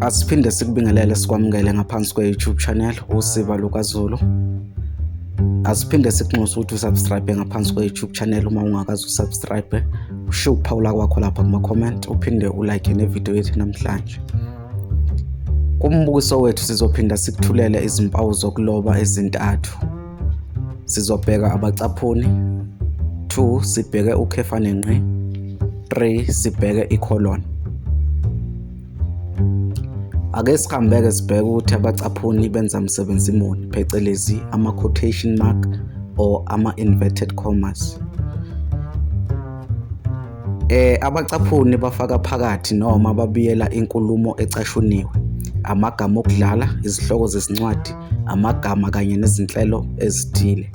asiphinde sikubingelele sikwamukele ngaphansi kwe-youtube channel usiba lukazulu asiphinde sikunxuse ukuthi usubscribe ngaphansi kwe-youtube channel uma ungakazi usubscribe ushiye ukuphawula kwakho lapha kuma-comment uphinde ulike nevidiyo yethu namhlanje kumbukiso wethu sizophinda sikuthulele izimpawu zokuloba ezintathu Sizobheka abacaphuni. 2 sibheke ukhefa nenqe. 3 sibheke icolon. Ake sihambeke sibheke ukuthi abacaphuni benza msebenzi muni phecelezi ama quotation mark or ama inverted commas. Eh abacaphuni bafaka phakathi noma babiyela inkulumo ecashuniwe, amagama okudlala, izihloko zezincwadi, amagama kanye nezinhlelo ezithile.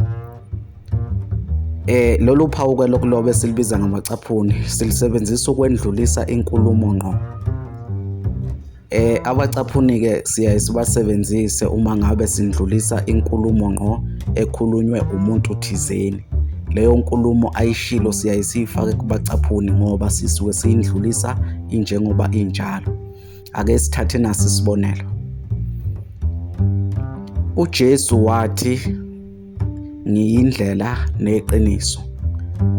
Eh lolu phawu ke lokuloba esilibiza ngamacaphuni silisebenzisa ukwendlulisa inkulumo ngqo. Eh abacaphunike siyaye sibasebenzise uma ngabe sindlulisa inkulumo ngqo ekhulunywe umuntu thizeni. Leyo nkulumo ayishilo siyaye siyifake kubacaphuni ngoba sisuke siyindlulisa injengoba injalo. Ake sithathe nasi isibonelo. UJesu wathi ngiyindlela neqiniso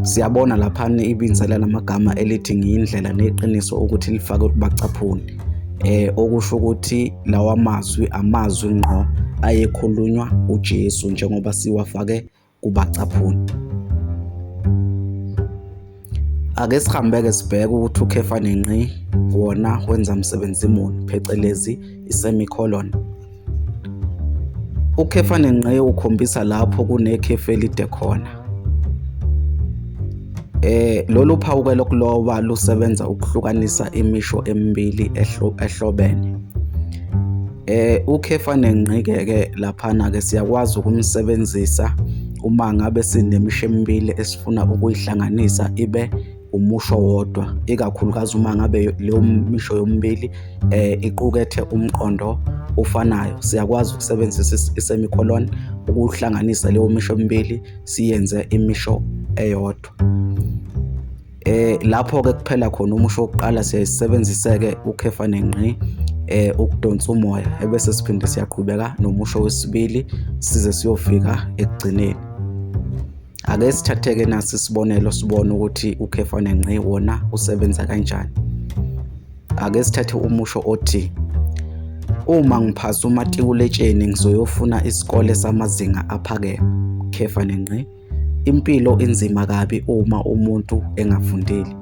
siyabona laphana ibinzela lamagama elithi ngiyindlela neqiniso ukuthi lifake kubacaphuni eh okusho ukuthi lawa mazwi amazwi ngqo ayekhulunywa uJesu njengoba siwafake kubacaphuni Ake sihambeke sibheke ukuthi ukhefa nenqi wona wenza msebenzi muni phecelezi i-semicolon. Ukhefa nenqi ukhombisa lapho kunekhefu elide khona. Eh lolu phawuke lokuloba lusebenza ukuhlukanisa imisho emibili ehlobene. Eh ukhefa nengqike-ke laphana-ke siyakwazi ukumsebenzisa uma ngabe sinemisho emibili esifuna ukuyihlanganisa ibe umusho wodwa ikakhulukazi uma ngabe leyo misho yomibili eh iqukethe umqondo ofanayo siyakwazi ukusebenzisa isemicolon ukuhlanganisa leyo misho emibili siyenze imisho eyodwa Eh lapho ke kuphela khona umusho wokuqala siyayisebenziseke ukhefa nengqi eh ukudonsa umoya ebese siphinde siyaqhubeka nomusho wesibili size siyofika ekugcineni ake sithatheke nasi isibonelo sibone ukuthi ukhefa nengqi wona usebenza kanjani ake sithathe umusho othi uma ngiphasa umatikuletsheni ngizoyofuna isikole samazinga aphakeme khefa nengqi Impilo inzima kabi uma umuntu engafundile.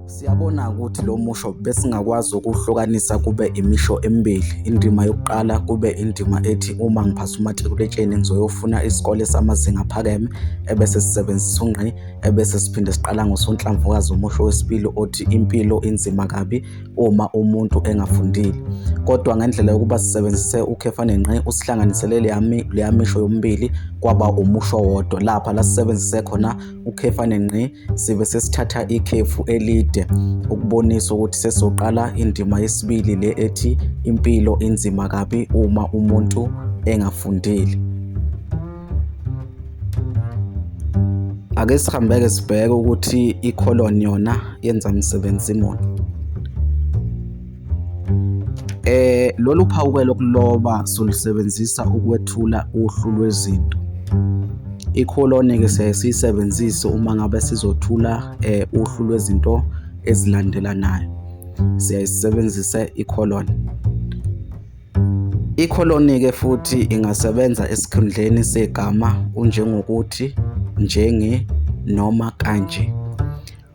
Siyabona ukuthi lo musho besingakwazi ukuhlukanisa kube imisho emibili. Indima yokuqala kube indima ethi uma ngiphasa umatikuletsheni ngizoyofuna isikole samazinga aphakeme ebese sisebenzisa ungqi ebese siphinde siqala ngosonhlamvukazi umusho wesibili othi impilo inzima kabi uma umuntu engafundile kodwa ngendlela yokuba sisebenzise ukhefa nenqe usihlanganisele leya misho yomibili kwaba umusho wodwa lapha la sisebenzise khona ukhefa nenqe sibe sesithatha ikhefu elide ukubonisa ukuthi sesizoqala indima yesibili le ethi impilo inzima kabi uma umuntu engafundile ake sihambeke sibheke ukuthi i-colon yona yenza msebenzi muni eh lolu phawuke lokuloba solusebenzisa ukwethula uhlu lwezinto i-colon ke siyaye siyisebenzise uma ngabe sizothula eh uhlu lwezinto ezilandelanayo siyayisebenzisa i-colon Ikholoni-ke futhi ingasebenza esikhundleni segama unjengokuthi, njenge, noma kanje.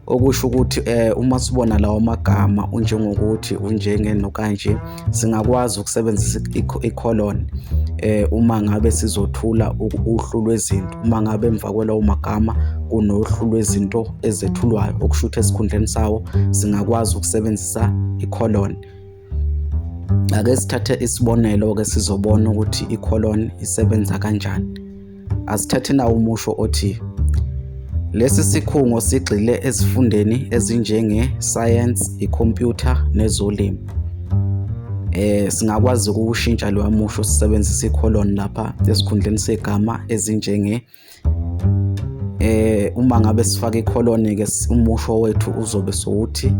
Okusho ukuthi eh, uma sibona lawo magama unjengokuthi, unjenge nokanje, singakwazi ukusebenzisa ikholoni eh, uma ngabe sizothula uhlu lwezinto, uma ngabe emva kwalawo magama kunohlu lwezinto ezethulwayo, okusho ukuthi esikhundleni sawo singakwazi ukusebenzisa ikholoni. ake sithathe isibonelo-ke sizobona ukuthi i-colon isebenza kanjani asithathe nawo umusho othi lesi sikhungo sigxile ezifundeni ezinjenge-science i-computer nezolimo eh singakwazi ukushintsha loya musho sisebenzisa i-colon lapha esikhundleni segama ezinjenge eh uma ngabe sifaka ikholoni ke umusho wethu uzobe sowuthi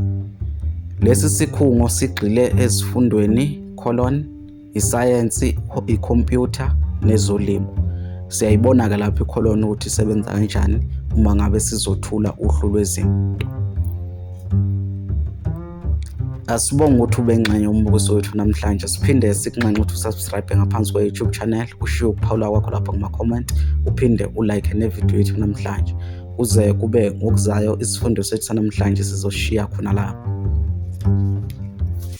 lesi sikhungo sigxile ezifundweni colon isayensi ikhompyutha nezolimo siyayibona ke lapho ikholoni ukuthi isebenza kanjani uma ngabe sizothula uhlu lwezinto Asibonge ukuthi ube ngxenye umbukiso wethu namhlanje siphinde sikunxenxe ukuthi usubscribe ngaphansi kwe-YouTube channel ushiye ukuphawula kwakho lapho kuma-comment uphinde ulike nevidiyo yethu namhlanje kuze kube ngokuzayo isifundo sethu sanamhlanje sizoshiya khona lapho